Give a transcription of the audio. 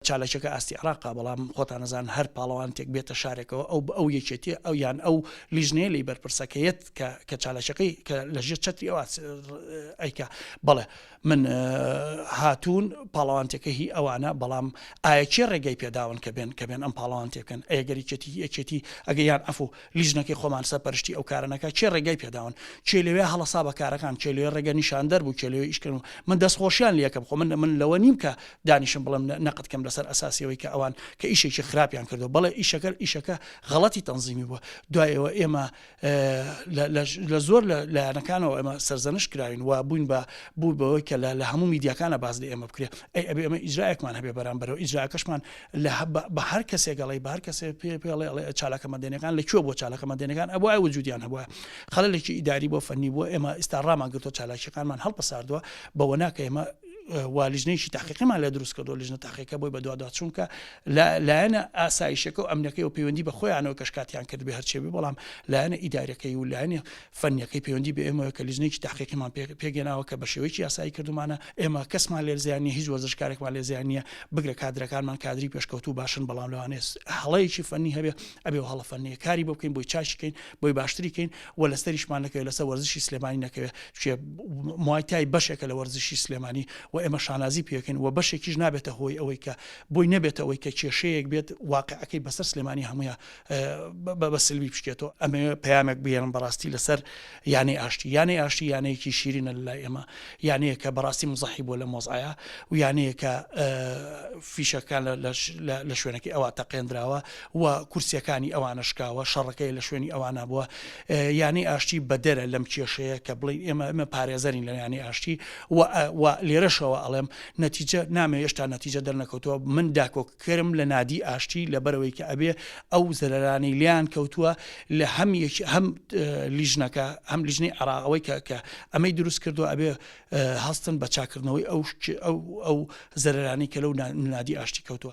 چالاکیەکە ئاستی عێراقە بەڵام خۆتان ئەزانن هەر پاڵەوانتێک بێتە شارێکەوە ئەو ئەو یەکێتیە ئەو یان ئەو لیژنەیە لی بەرپرسە کە یەت کە کە چالاکیەکەی کە لە ژێر چەتری ئەو ئاس- ر- ئەیکا بەڵێ من اه، هاتوون پاڵەوانتێکە هی ئەوانە بەڵام ئایە کێ ڕێگەی پێداون کە بێن کە بێن ئەم پاڵەوانتێ بکەن ئەگەر یەکێتی یەکێتی ئەگە یان عەفوو لیژنەکەی خۆمان سەرپەرشتی ئەو کارە نەکا کێ ڕێگای پێداون کێ لەوێ هەڵەسا بە کارەکان کێ لەوێ ڕێگە نیشاندەر بوو کێ لەوێ ئیشکردن و من دەستخۆشیان لێ یەکەم خۆ من من لەوە نیم کە دانیشم بڵێم نەقد کەم لەسەر ئەساسیەوەی کە ئەوان کە ئیشێکی خراپیان کردو بەڵێ ئیشەکە ئیشەکە غەڵەتی تەنزیمی بووە دوایەوە ئێمە لە زۆر لە لایەنەکانەوە ئێمە سەرزەنش کراوین و بووین بە بوو بەوەی کە لە هەموو میدیاکانە باز لە ئێمە بکرێت ئەی ئەبێ ئەمە ئیجرایەکمان هەبێ بەرامبەرەوە ئیجراکەشمان لە بە هەر کەسێک ئەڵێی بە هەر کەسێ پێ پێڵێ ئەڵێ چالاکە مەدەنەکان لە کوێ بۆ چالاکە مەدەنەکان ئەوە ئەو وجودیان هەبووە خەلێکی ئیداری بۆ فەنی بووە ئێمە ئیستا ڕامان گرتۆ چالاکیەکانمان هەڵپەساردووە بەوە ناکە ئێمە والیژنێکی تاقیقیمان لە دروست کردو لژنە تاقیەکە بۆی بەدووادا چونکە لایەنە ئاسایشەکە و ئەمنەکەی و پەیوەندی بە خۆیانەوە کەشکاتیان کرد بێ هەرچێبی بەڵام لایەنە ئیدارەکەی و لایەنی فەنیەکەی پەیوەندی بە ئێمەوە کە لیژنەیەکی تاقیقیمان پێگەناوە کە بە شێوەیەکی یاسایی کردومانە ئێمە کەسمان لێ زیان نیە هیچ وەرزشکارێکمان لێ زیان نیە بگرە کادرەکانمان کادری پێشکەوت و باشن بەڵام لەوانێت هەڵەیەکی فەنی هەبێ ئەبێ و هەڵە فەنیە کاری بۆ بکەین بۆی چاشکەین بۆی باشتریکەین و لەسەریشمان نەکەوێت لەسەر وەرزشی سلێمانی نەکەوێت چێ موایتای بەشێکە لە وەرزشی سلێمانی و ئێمە شانازی پێکەین و بەشێکیش نابێتە هۆی ئەوەی کە بۆی نەبێتەوەی کە کێشەیەک بێت واقعەکەی بەسەر سلێمانی هەمویان بە سلمی بشکێتەوە ئەمەوێ پەیامێک بهێنم بەڕاستی لەسەر یانەی ئاشتی یانەی ئاشتی یانەیەکی شیرینە لای ئێمە یانەیە کە بەڕاستی مزەحی بۆ لە مۆزایە و یانەیە کە فیشەکان لە شوێنەکەی ئەوە تەقێنراوە و کورسیەکانی ئەوانە شکاوە شەڕەکەی لە شوێنی ئەوانە بووە یانەی ئاشتی بەدەرە لەم کێشەیە کە بڵێ ئێمە ئەمە پارێزەرین لە یانەی ئاشتی و لێرەشەوە ئەڵێم نەتیجە نامێ هێشتا نەتیجە دەرنەکەوتەوە من داکۆک کرم لە نادی ئاشتی لەبەرەوەی کە ئەبێ ئەو زەرەرانەی لێیان کەوتووە لە هەم یەکی هەم لیژنەکە هەم لیژنەی عراق ئەوەی کە کە ئەمەی دروست کردووە ئەبێ هەستن بە چاکردنەوەی ئەو ئەو ئەو زەرەرانی کە لەو نادی ئاشتی کەوتووە